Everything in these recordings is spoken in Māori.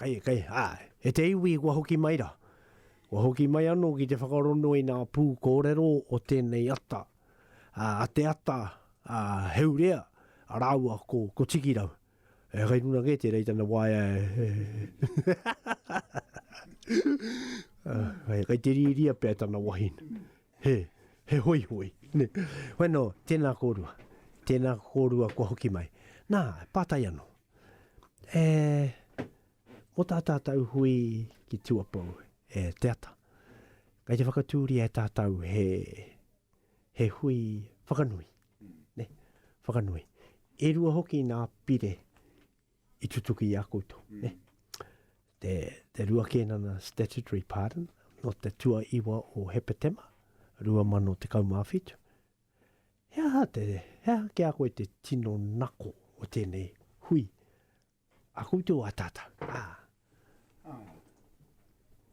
Kei, kei, āe. E te iwi, kua hoki mai rā. Kua hoki mai anō ki te whakarongo i ngā pū kōrero o tēnei ata, ā, a te ata, ā, Heurea, ā rāua ko, ko Tikirau. E, kei runga kē tērā i tana waea e, e. Ā, kei te rīria pea tana wahine. He, he hoihoi, nē. Koinā, tēnā kōrua. Tēnā kōrua kua hoki mai. Nā, pātai anō. E, mō tā tātou hui ki Tuapou, e Te Ata, kei te whakatūria e tātou he, he hui whakanui, ne, whakanui. E rua hoki nā pire i tutuki i a koutou, mm. ne? Te, te rua kēnana statutory pardon, no te tua iwa o Hepetema, rua mano te kaumāwhitu, He aha te, he aha ki a koe te tino nako o tēnei hui a koutou a tātou? Ā. Ā,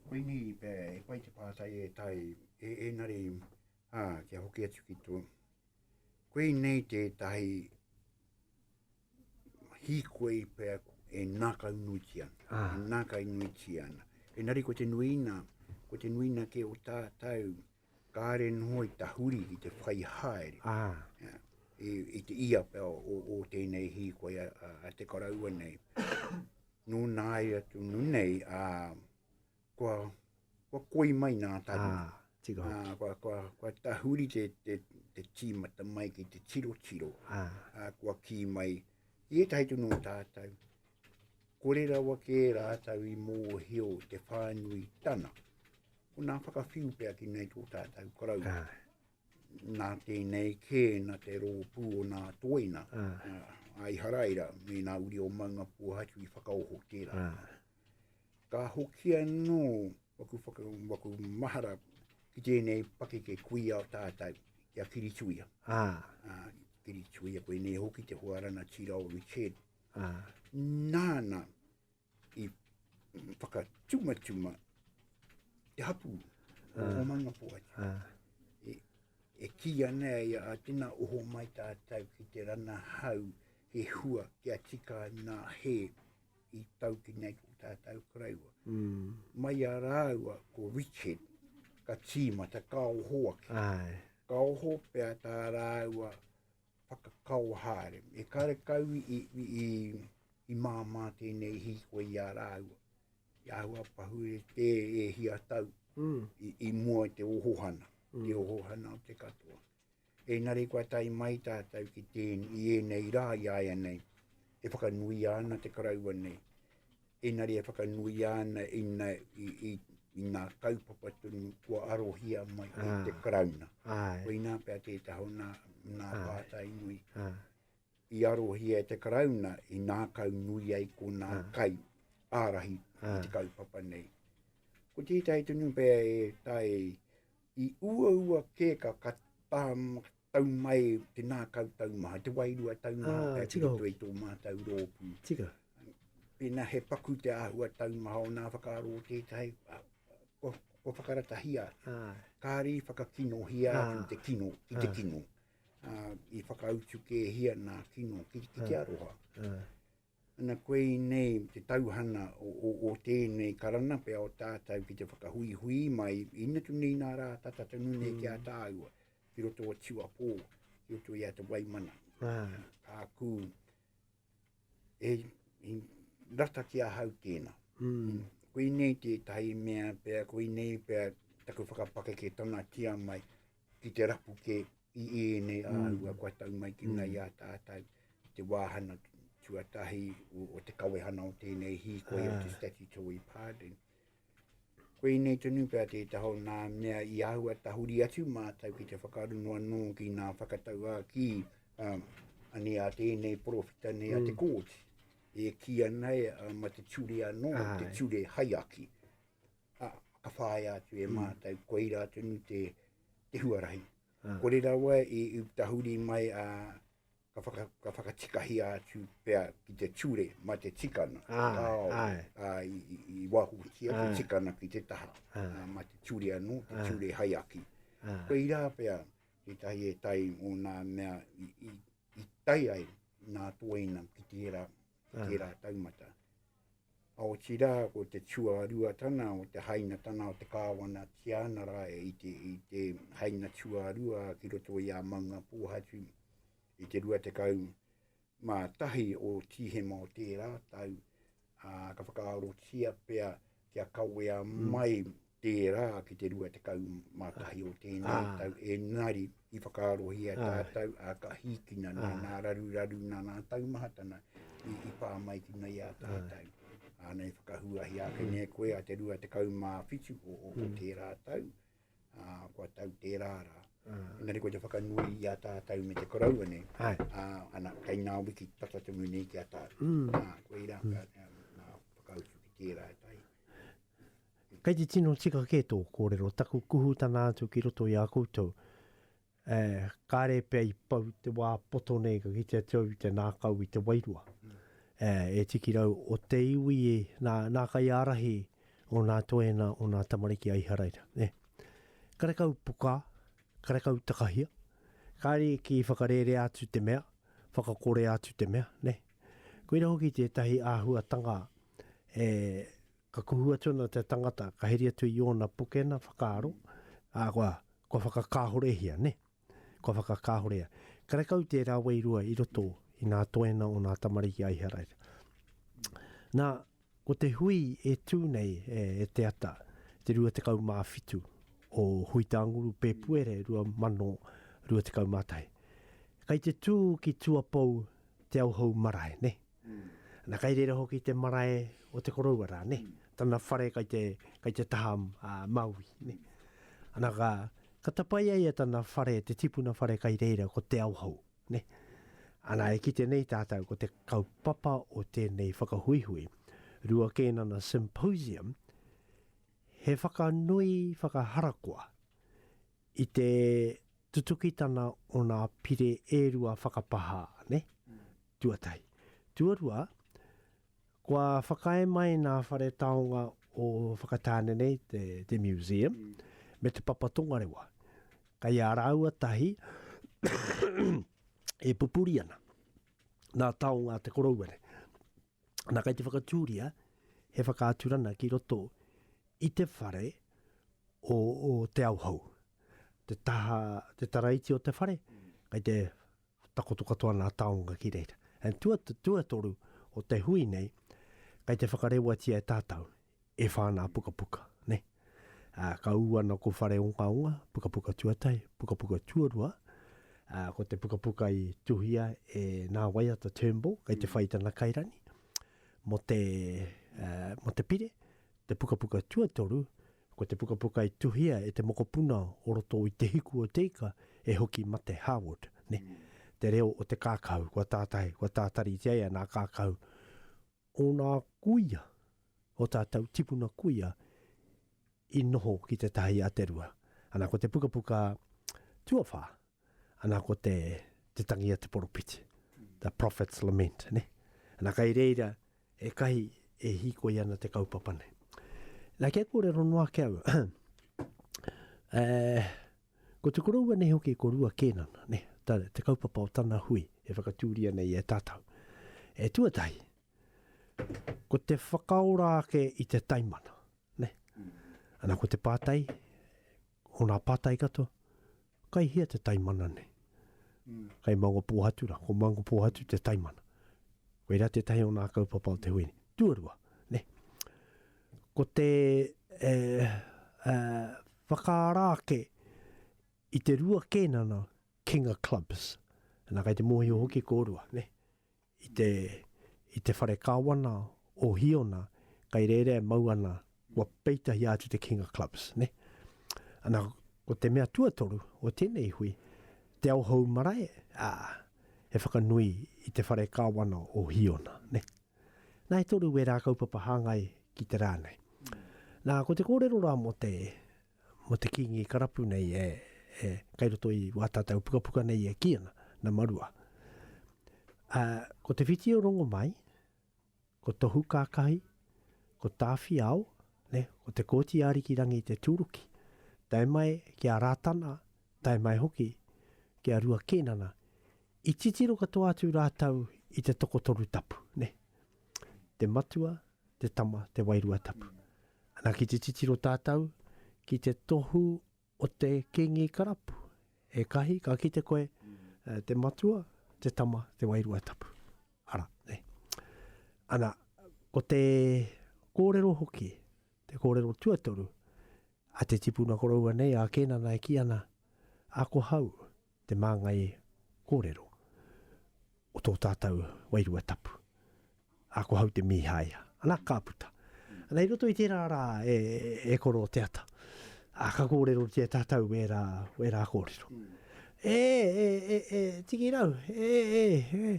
koinei i pēa e pai te pātai e tae, e engari, ā, kia hoki atu ki tō, koinei tētahi hīkoi i pēa e nākainuitia ana, e nākainuitia ana. Engari ko te nuiina, ko te nuiina kē o tātou, Kāre noho i tahuri ki te whai haere. Aha. I, i te ia pea o, o tēnei hīkoi a, a, a te karaua nei. Nō nāi atu nu nei, a, kua, kua koi mai nā taru. Ah. Tika hoki. Uh, kua, kua, kua tahuri te, te, te tīmata mai ki te tiro tiro. Ah. Uh, kua kī mai, i e tahi tunu o tātou, kore rawa kē rātou i mōhio te whānui tana. Ko nā whakawhiu pea ki nei tō tātou korau. Ah. Nā tēnei kē, nā te rōpū o nā toina. Ah. Uh, ai haraira, me nā uri o maunga puhatu i whakaoho tērā. Ah. Ka hoki anō waku, whaka, waku mahara ki tēnei pakeke kuia o tātou, ki a Kirituia. Ah. Ah, Kirituia, koe nei hoki te hoarana tira o Richard. Ah. Nāna, i whakatumatuma te hapu o ah. Omanga Poai. Ah. E, e ki ana e a tina oho mai tātou ki te rana hau he hua ki a tika nā he i tau ki nei ko tātou karaiwa. Mm. Mai a rāua ko Richard ka tīmata ka oho ake. Ai. Ka oho pia tā rāua whakakao haere. E karekau i, i, i, i māmā tēnei hīkoi i a rāua. I āhua pahure te e hia tau mm. i, i mua te ohohana, mm. te ohohana o te katoa. E nare kua tai mai tātou ki tēn, i ēnei rā i aia nei. E whakanuia ana te karaua nei, engari e whakanuia ana ina, i, i, i nā kaupapa tonu kua arohia mai e ah. te karauna. Ai. Koina pea tētahi o nā, nā ah. pātai nui. Ah. I arohia e te karauna i nā kau nui ai ko nā ah. kai ārahi ah. i te kaupapa nei. Ko tētahi tonu pea e tae i uaua kēka ka tam, tau mai, te nā kau tau maha, te wairua tau maha, ah, e tira to i tō mātou rōpū. Tira. Pēnā he paku te āhua tau maha o nā whakaaro o tētahi, ah, ko, ko whakaratahia, ah. kāri whakakinohia ah. ki te kino, ki te ah. kino. Ah. Ah, i whakautu kēhia nā kino, ki, ki te aroha. Ah. Ana koe i nei te tauhana o tēnei karana pea o tātau ki te whakahuihui mai i natu nei nā rā tata tonu nei ki a mm. tāua, ki roto o tiwa pō, ki roto i a te waimana. Ah. Ka kū, e, e rata ki a hau tēnā. Mm. Koe nei te tahi mea pea, koe nei pea taku whakapakeke tana tia mai ki te rapu ke i ēnei āhua kua tau mai ki ngai a tātou te wāhana tuatahi o, o te kawehana o tēnei hīkoi yeah. o te statutory pardon. Koinei tonu pea te taho nā mea i ahua tahuri atu mātou ki te whakaruno anō ki nā whakatau a ki um, ane a tēnei porofita nei mm. a te mm. kōti. E ki anai a ma te ture anō, Ai. te ture haiaki. A, ka whaia atu e mm. mātou, koira tonu te, te huarahi. Kore rawa i tahuri mai a ka whaka, ka whakatikahia atu pea ki te ture ma te tikana. Ai, ai. A, i, i, i wahutia te tikana ki te taha. A, ma te ture anu, te ture hai aki. Koe ira pea, te tahi e tai o nā mea i, i, i tai ai nā tōina ki tērā. ki tērā taumata. A otirā, ko te tuāruatanga o te hainatanga o te kāwana Tiana rā e i te, i te haina tuārua ki roto i a Maunga Pōhatu i te 20 mā tahi o Tīhema o tērā tau, a, ka whakaarotia pea kia kawea mai tērā ki te 21 o tēnei tau, engari i whakaarohia tātou ā ka hīkina nei nā raruraru nā nā taumahatana i pā mai ki nei ā tātou. Āna i whakahuahia ake nei koe a te 27 o tērā tau, ā, kua tau tērā rā. Engari ko te whakanui i a tātou me te koroua nei, ā, ana, kei ngā wiki tata tonu nei ki a tātou. Mm. Ā, koe rā, mm. ka, nā, whakautu ki tērā e tai. Kei te tino tika kē tō kōrero, taku kuhutana atu ki roto i a koutou. Ē, kāre pea i pau te wā poto nei ka kitea te au i te nākau i te wairua. Ē, e tiki rau o te iwi e, nā, nā kaiārahi o nā toena o nā tamariki a Iharaira, nē. Karekau pukā, karekau takahia, kāre ki whakarērea atu te mea, whakakorea atu te mea, nē. Koira hoki tētahi āhuatanga e Ka kuhu atu ana te tangata, ka heri atu i ōna pokena whakaaro, ā, kua, kua whakakāhorehia, nē. Kua whakakāhorea. Karekau tērā wairua i roto i nā toena o nā tamariki a Iharaira. Nā, ko te hui e tū nei e, e te ata, te 27 o Huitanguru, Pēpuere 2021. Kei te tū ki Tuapou Te Auhou Marae, nē. Na kai reira hoki te marae o te koroua ra ne tana whare kai te kai te taha a Maui ne. Ana ka ka tapai ai e tana whare te tipuna whare kai reira ko te Aohou ne. Ana e kite nei tatou ko te kaupapa o tenei whakahuihui rua Kēnana Symposium he whakanui whakaharakoa i te tutukitana o nā pire e rua whakapahā, ne? Tuatahi. Tuarua, kua whakaae mai nā whare taonga o Whakatāne nei, te, te museum, me te papa tongarewa. Kai a rāua tahi e pupuri ana. Nā taonga te korouere. Nā, kei te whakatūria he whakaaturana ki roto i te whare o, o Te Auhou. Te taha, te taraiti o te whare, kei te takoto katoa nā taonga ki reira. And tua, tua toru o te hui nei, kei te whakarewatia e tātou E whā nā pukapuka, nē. Ā, ka ū ana ko Whare Ongaonga, pukapuka tuatahi, pukapuka tuarua, ā, ko te pukapuka i tuhia e nā waiata Turnbull kei te whai tana kairani, mō te, ā, mō te pire, te pukapuka tuatoru, ko te pukapuka i tuhia e te mokopuna o roto i Te Hiku o Te Ika e hoki mate, Harwood, nē. Te reo o te kākahu, kua tātai, kua tātaritia e ana a Kākahu, Ōna kuia, ō tātou tipuna kuia i noho ki Te Tahi a Te Rua. Ana, ko te pukapuka tuawhā, ana, ko te Te Tangi a te Poropiti, The Prophet's Lament, nē. Ana, kei reira ētahi e hīkoi ana te kaupapa nei. Nā, kia kōrero noa ake au, Ko te koroua nei hoki ko Rua Kēnana, nē, tā te kaupapa o tana hui e whakatūria nei e tātou. E tuatahi, ko te whakaora ake i te taimana, nē. Ana ko te pātai, o nā pātai katoa, kai hea te taimana nei? Kai Mangopōhatu rā, ko Mangopōhatu te taimana. Koirā tētahi o nā kaupapa o te hui nei. Tuarua, nē, ko te e, e, Whakaara ake i te rua kēnana King of Clubs, nā kei te mōhio hoki kōrua, nē, i te, i te whare kāwana o Hīona, kei reira e mau ana, kua peitahia atu te King of Clubs, nē. Ana, ko te mea tuatoru o tēnei hui, te ao hou marae, ā, he whakanui i te whare kāwana o Hīona, nē. Nā e toru wērā kaupapa hāngai ki te rā nei. Nā, ko te kōrero rā mō te, mō te Kīngi Karapu nei e, e, kei roto i wā tātou pukapuka nei e kī ana, na Marua. Ā, ko Te Whiti o Rongomai, ko Tohu Kākahi, ko Tāwhiao, nē, ko Te Kooti Ārikirangi te tūruki. Tae mai ki a Rātana, tae mai hoki ki a Rua Kīnana, i titiro katoa atu rātou i te tokotoru tapu, nē. Te Matua, te Tama, te Wairua Tapu. Ana ki te titiro tātou ki te tohu o te Kīngi Karapu, e Kahi, ka kite koe, te Matua, te Tama, te Wairua Tapu. Ara, nē. Ana, ko te kōrero hoki, Te kōrero tuatoru a te tipuna koroua nei a Kēnana e kī ana, Akohau te māngai kōrero o tō tātou wairua tapu. Akohau te mīhaia. Anā, ka puta. Anā, i roto i tērā rā e koro te ata, ā, ka kōrerotia tātou wērā, wērā kōrero. E, e, e, e, Tikirau, e, e, e,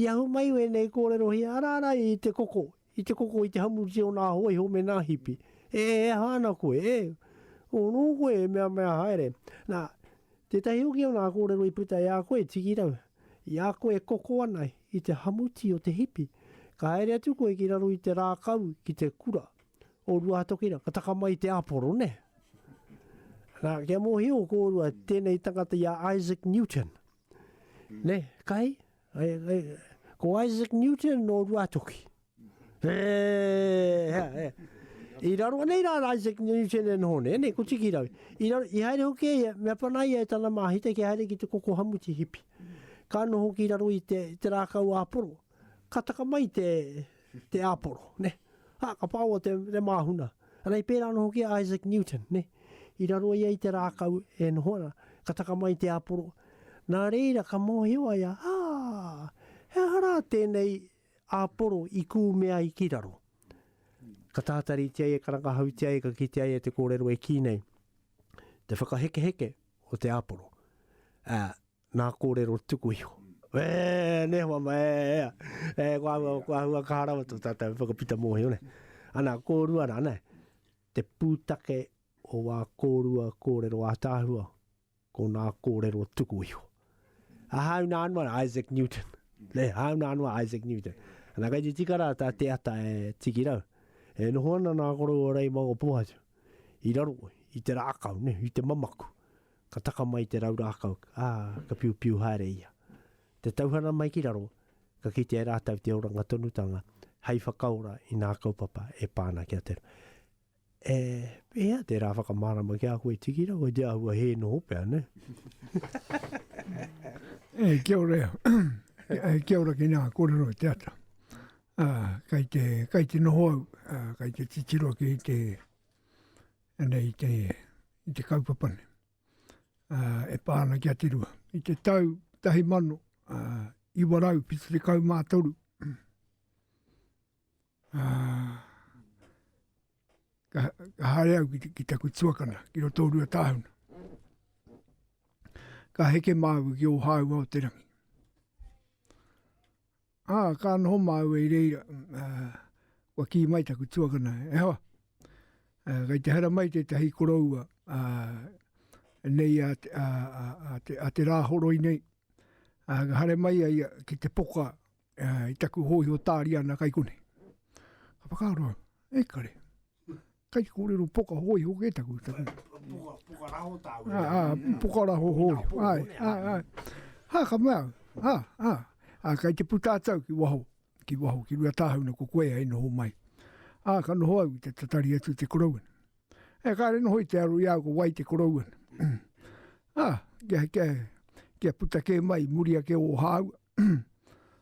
i ahu mai wēnei kōrerohia, arā, arā, i te koko, I te koko i te hamuruti o nā hoa iho me nā hipi. E ē aha ana koe, e? Ō nō koe e meamea haere. Nā, tētahi hoki o nā kōrero i puta i a koe, tiki rau. I a koe e koko ana i te hamuti o te hipi, ka haere atu koe ki raro i te rākau ki te kura o Ruahatokirangi, ka taka mai te aporo, nē? Nā, kia mōhio kōrua tēnei tangata i a Isaac Newton. Ne, kai? Ai, ai, ko Isaac Newton nō Ruatoki. E, hea, hea. I raro nei rā Isaac Newton e noho nei, nei, ko tiki rau. I, raro, i haere hoki e ia, mea pana ia e tana māhita ki haere ki te koko hamuti hipi. Ka noho ki raro i te, te rākau āporo. ka taka mai te, te āporo, nē. Ā, ka pāua te, te māhuna. Anei, pērā anō hoki a Isaac Newton, nē. I raro ia i te rākau e noho ana, ka taka mai te āporo. Nā reira, ka mōhio a ia, ā, he aha rā tēnei āporo i kūmea ai ki raro? Ka tātaritia ia, ka rangahautia ia, ka kitea ia te kōrero e kī nei, Te whakahekeheke o te āporo. Ā. Nā kōrero tuku iho. E, nē hoa mai, e, ea. E, kua ahua, kua ahua kaha rawa tō tātou whakapita mōhio, nē. Ana, kōrua rā, nē. Te pūtake o wā kōrua kōrero ātaahua, ko nā kōrero tuku iho. A hāu nā anō a Isaac Newton. Nē, hāu nā anō a Isaac Newton. Ana, kai te tika rā tā te ata e tiki rau. E noho ana nā koroua rei mangopōhatu. I raro, i te rākau, nē, i te mamaku. Ka taka mai te rau rākau, ā, ka piupiu haere ia. Te tauhana mai ki raro, ka kitea e rātou te oranga tonutanga hei whakaora i ngā kaupapa e pā ana ki a te. E, pēhea te rā whakamārama ki a koe tiki rā, kei te āhua hē noho pea, nē? E, kia ora e. E, kia ora ki ngā kōrero o te ata. Ā, kei te, kei te noho au, ā, kei te titiro ki te, Anei te, i te kaupapa nei, ā, e pā ana ki a Te Rua. I te tau tahi mano, ā, iwa rau whitu tekau mā toru, ā, ka, ka haere au ki, ki taku tuakana, ki roto o Ruatāhuna. Ka heke māua ki Ōhāua o te Rangi. Ā, ka noho māua i reira, ā, kua kī mai taku tuakana, E hoa, ā, kei te hara mai tētahi koroua, ā, nei a, a, a, a, te, a te rāhoroi nei, ā, ka hare mai a ia ki te poka ā, i taku hōiho tāriana kai konei. Ka whakaaro au, e kare. kai kōrero poka hoi hoki e taku. taku. Poka, poka raho tāu. Ah, ah, mm. poka raho hoi. Ai, ai, ai. Ha, ka mea, ha, ha. Ah, kai te puta atau ki waho, ki waho, ki rua tāhau na ko koe ai noho mai. Ah, ka noho au te tatari atu te korouan. E ka re noho i te aro i au ko wai te korouan. ah, kia, kia, kia puta ke mai, muria ke o hāu.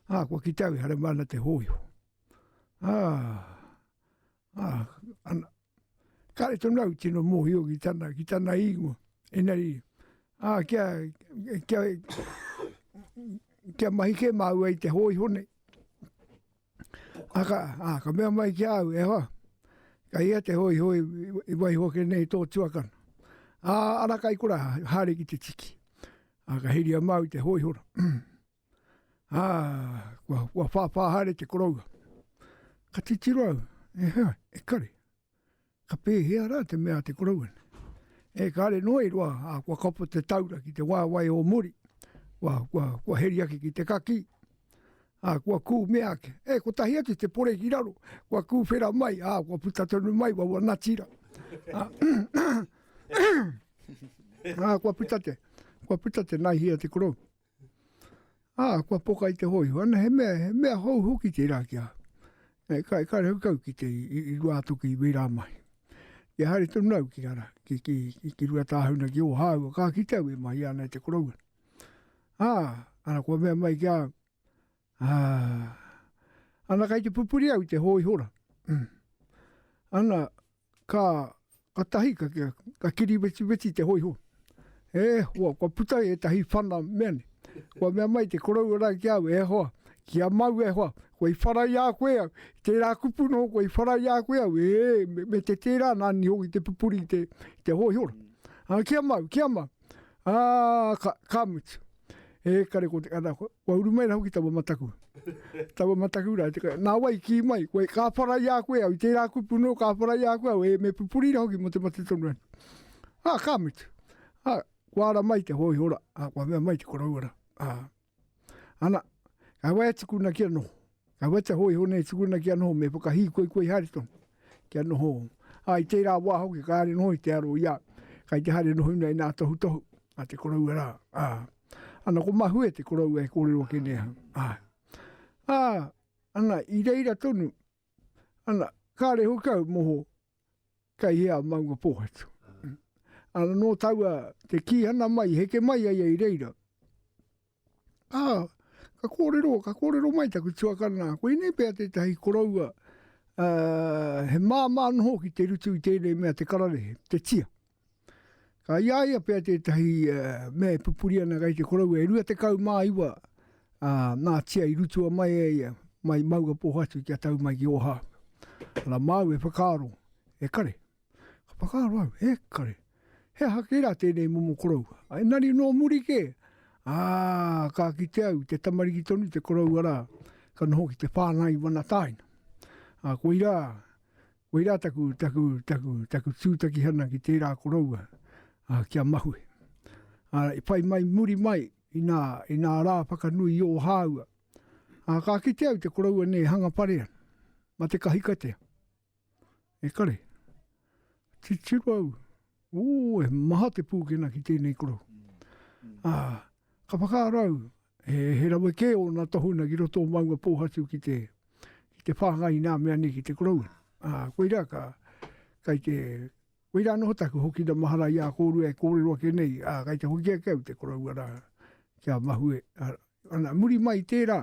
ah, kua ki tau, hare mana te hoi. Ah, Ah, ana. Kare tonu au tino mohio ki tana, ki tana ingo. Enari, ah, kia, kia, kia mahi ke māua i te hoi hone. Aka, ah, ka mea mai ki au, e hoa, ka ia te hoi hoi i wai hoke nei tō tuakana. Ah, ana kai kura, hare ki te tiki. Ah, ka hiria māu te hoi hora. Ā, kua, kua whāwhā haere te koroua. Ka titiro au, e hea, e kare. Ka pēhea rā te mea te koroua nei. E kare noa i roa, ā, kua kapo te taura ki te waewae o muri. Kua, kua, kua heri ake ki te kakī. Ā, kua kū mea ake. E, kotahi atu te pore ki raro. Kua kūwhera mai, ā, kua puta tonu mai waua natira. Ā, ā, kua puta te, kua puta te naihia te korou. Ā, kua poka i te hōiho. Ana, he mea, he mea hou hoki tērā ki a. E, ka, ka rehau kau ki te, i, i rua atu ki wērā mai. Ki a haere tonu au ki ara, ki, ki, ki, ki rua tāhuna ki Ōhāua, ka kite au e mai ana e te koroua. Ā, ana kua mea mai ki a, Ā, ana kei te pupuri au i te hōihora. Ana, ka, ka tahi, ka, ka kiri wetiweti i te hōiho. E hoa, kua puta ai ētahi whana mea nei. Kua mea mai te koroua rā ki a au, e hoa, ki a māu e hoa, kua i whara i a koe au, i tērā kupu noho kua i whara i a koe au, ē, me, me te tērā nāni hoki te pupuri i te, i te hōihora. Ā, ki a māu, ki a māu. Ā, ka, ka mutu. Ekare ko te kanako, kua uru mai rā hoki taua mataku. taua mataku rā, te kai, nā wai kī mai, koe, ka whara i a koe au, i tērā kupu nō, ka whara i a koe au, e, me pupuri rā hoki mō te mate tonu atu. Ā, ka mutu. Ā, kua ara mai te hōihora, ā, kua mea mai te koroua rā. Ā. Ana, ka wai tukuna kia noho. Ka wai te hoi hone tukuna kia noho me whakahī koi koi haere tonu kia noho. Ai tērā wā hoki ka haere noho i te aro ia, kai te haere noho nei nā tohu tohu a te koroua rā. Ana ko Mahue te koroua e kōrero ake nei aha. Ana, i reira tonu, ana, kāre hoki au moho Kei hea maunga pōhatu. Ana nō taua te kīhana mai, heke mai a ia i reira. Ā, ka kōrero, ka kōrero mai taku tuakana, koinei pea tētahi koroua he māmā noho ki te rutu i tēnei mea te kararehe, te tia. Ka i a ia pea tētahi mea e pupuri ana kai te koroua, e rua te kau mā iwa a Nātia i rutua mai e ia, mai maua pōhatu kia tau mai ki Ōhāu. Ana māu e whakaaro, e kare, ka whakaaro au, e kare, he aha kē rā tēnei momo koroua? Engari nō muri kē, ā, ka kite au, te tamariki tonu te koroua rā, ka noho ki te whāngai wana tāina. Ā, koirā, Koirā taku, taku, taku, taku tūtakihana ki tērā koroua, ā, kia mahue. Ā, i whai mai muri mai i nā, i nā rā whakanui i Ōhāua, ā, ka kite au te koroua nei e hanga pare ana, ma te kahikatea. E kare, titiro au, Ū, he maha te pūkena ki tēnei korohu. Ā, ka whakaaro au, he, he rawe kē ōna tohunga ki roto o Maungapōhatu ki te, ki te whāngai i nā mea nei ki te koroua. Ā, koirā ka, kai te, koirā noho taku hokina mahara i a kōrua e kōrero ake nei, ā, kai te hoki ake au te koroua rā, kia mahue. Ā, ana, muri mai i tērā,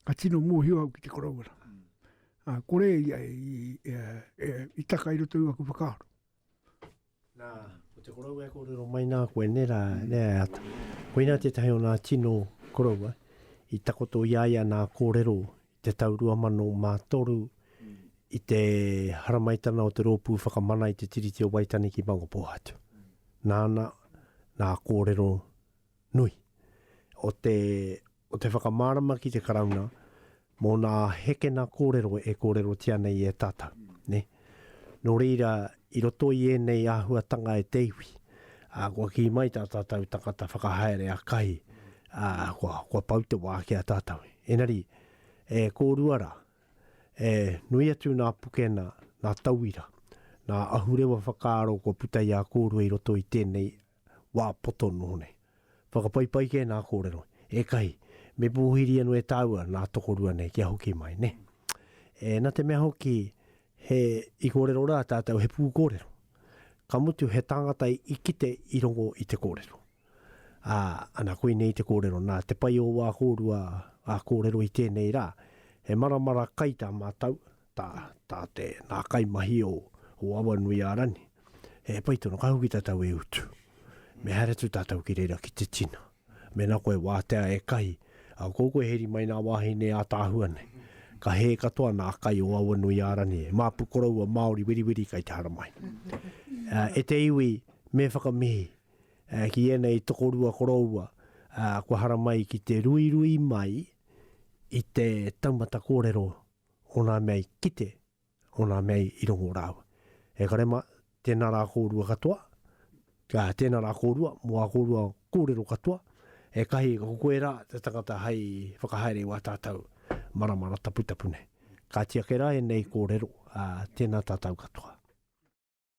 ka tino mōhio au ki te koroua rā. Ā, kore ia i, i, i taka i roto i aku whakaaro. Nā, ko te koroua e kōrero mai nā koe, nē rā, nē a ata. Koinā tētahi o nā tino koroua i takoto i a ia nā kōrero i te tau 2003 i te haramaitana o te Rōpū Whakamana i te Tiriti o Waitangi ki Mangapōhatu. Nāna nā kōrero nui o te, o te whakamārama ki te Karauna mō nā hekena kōrero e kōrerotia nei e tātou, nē. Nō reira, i roto i ēnei āhuatanga e te iwi, ā, kua kī mai tā tātou tangata whakahaere akai, ā, kua, kua pau te wā ki a tātou. Engari, e kōrua rā, e nui atu nā pukena, nā tauira, nā ahurewa whakaaro kua puta i a kōrua i roto i tēnei wā poto noho nei. Whakapaipai kē nā kōrero, ēkahi, me pōhiri anō e tāua nā tokorua nei kia hoki mai, nē. E, nā te mea hoki, he, i kōrero rā tātou he pūkōrero. Ka mutu he tāngata i kite i rongo i te kōrero. Ā, ana koinei te kōrero, nā te pai o wā kōrua, ā, kōrero i tēnei rā, he maramara kai tā mātou, tā, tā te, nā kaimahi o, o Awanuiārani, he pai tonu, ka hoki tātou e utu. Me haere atu tātou ki reira ki te tina. Mēnā koe wātea e kahi, a ko koe heri mai nā wāhine ātaahua nei. Ka hē katoa nā kai o Awanuiārani, e māpu koroua Māori weriweri kai te haramai. E te iwi, me whakamihi, ki ēnei tokorua koroua, kua haramai ki te ruirui mai i te taumata kōrero o nā mea i kite, o nā mea i rongo rāua. E kare mā, tēnā rā kōrua katoa, ā, tēnā rā kōrua, mō ā kōrua kōrero katoa, e kahi, koirā te tangata hei whakahaere i wā tātau maramara taputapu nei. Kāti ake rā ēnei kōrero, ā, tēnā tātau katoa.